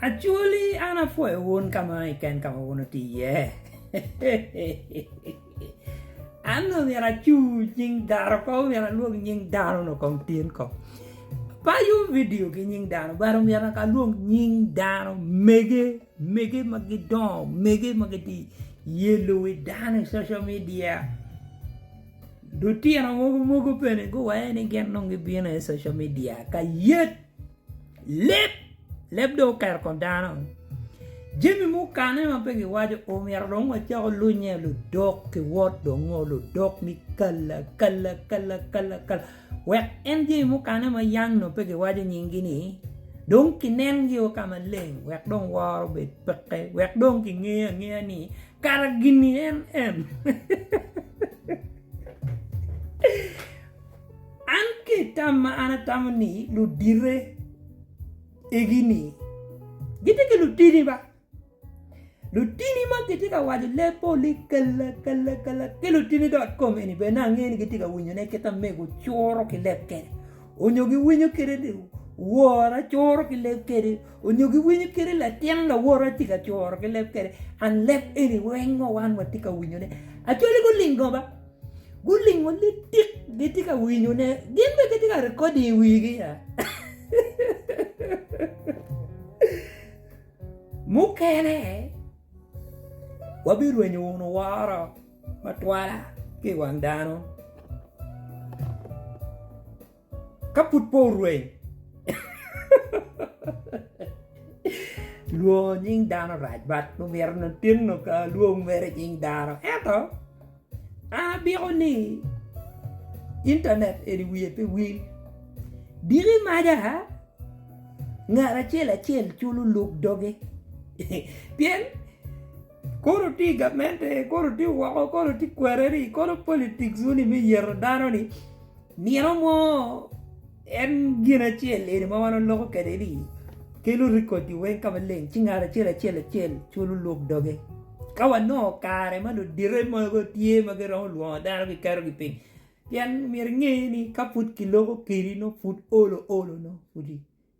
Actually an apwoyo wun ka ma keken ka ma wun wutye iye. An nongo myero acu nying dano kong myero alwong nying dano nongo kong tin kong. Apayo vidio ki nying dano but omyero naka alwong nying dano mege mege ma gidongo mege ma gitye iye luwi dano i social media. Lutino mogo mogo bene guwene ni gin nongo gibino iye i social media ka yec. Leb, leb dong oketo i kom dano. Jami mukane ma pe giwaco omyero dong wacako lunye ludok ki wot dong ngo ludok ni kala kala kala kala kala wek en jami mukane ma yang no pe giwaco nyingi ni dong kinengi o ka maleng wek dong woro obed peke wek dong kingeyo angeya ni kara gini en en An ki i tam ma an atamo ni ludite egi ni gitye ki lutini ba lutini ma gitye ka waco lee poli kala kala kala ki lutini dot kom eni bene ni ange ni gitye ka winyo ne kit amego curo ki leb kede onyo gi winyo kede ni wora curo ki leb kede onyo gi winyo kede latin lawote tye ka curo ki leb kede and leb eni weng wa wan watye ka winyo ne actually gulingo ba. Gulingo litik gitye ka winyone. Gin bene gitye ka recording i wigi ya. Mukene wabirwenyo wunu woro matwala ki i wang dano. Ka pud pe orweny, lwongo nying dano rac bat omyero onongo tin dong ka alwong mere nying dano. Ento, an abiko ni intanet eni wiye pe wil. Diki maca, ngat acel acel culo lub doge pien. Kono tye gamente, kono tye woko, kono tye kwereni, kono politics wuni me yeto dano ni nino mo en gin acel eni ma wan waloko kwede ni kelo record i weng ka maleng ci ngat acel acel acel culo lwok doge. Ka wanongo kare ma ludite mogo tye ma giromo lwongo dano giketogi piny pien myero inge ni ka pud kiloko kedi nongo pud olo olo nongo pudi.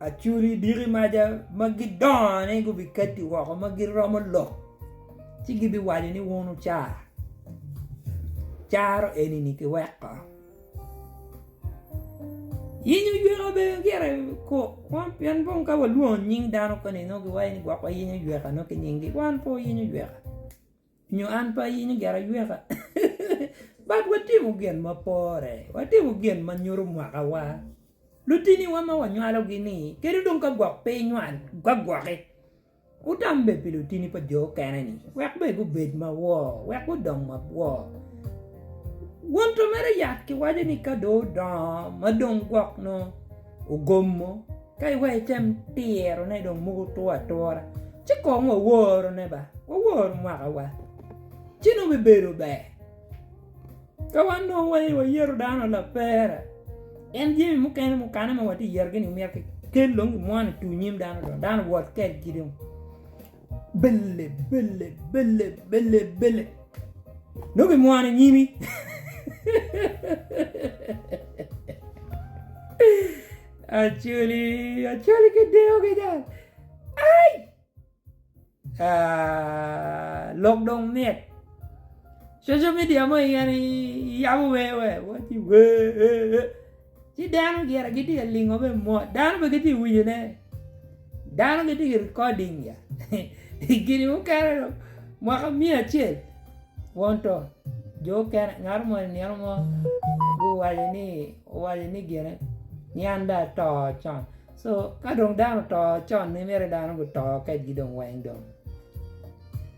Acuri diki maca ma gidongo-ni gubikatti woko ma giromo lok ci gibiwaco ni wun wucar, caro eni-ni kiweko. Yinyo oyweka bene gire kok kwan pien dong ka walwongo nying dano koni nongo giwaco ni gwok wayinyo oyweka nongo ki nyinggi wan pe wayinyo oyweka. Nyo an pe ayinyo gin ayweka, but watimo gin ma pore, watimo gin ma nyuto mwakawa. Lutiniwa ma wanywalogi ni kadi dong ka gwok pe inywal gwagwoki, wutam bed pi lutini pa jo mukene ni wek bene gubed ma wor, wek gudong ma wor. Won to mere yat kiwaco ni ka dong odongo ma dong gwok nongo ogomo. Ka iweko item tirone dong mogo two atura ci kong waworone ba, wawor mwakawa ci nongo bibedo ber. Ka wan dong waye wayeto dano lapera pien jami mukene mukane ma watye ka yetogi-ni myero kikel dong kimwono i tung nyim dano dong dano wot kwedgi dong. Bele, bele, bele, bele, bele. Nongo kimwono i nyimi. Acoli, acoli kideyo ki jal. Ai! Ah, lok dong mit. Social media mo iyen iyabo wee wee, wati wee. Ci dano gire gitye ka lingo me mot. Dano pe gitye winyo ne. Dano gitye ki recording ya. Gini mukene do mwaka mia acel won to jo okene ngato mo ni nino mo guwaco ni owaco ni gine ni an do ato con. So ka dong dano oto con ni mere dano guto kedgi dong weng dong.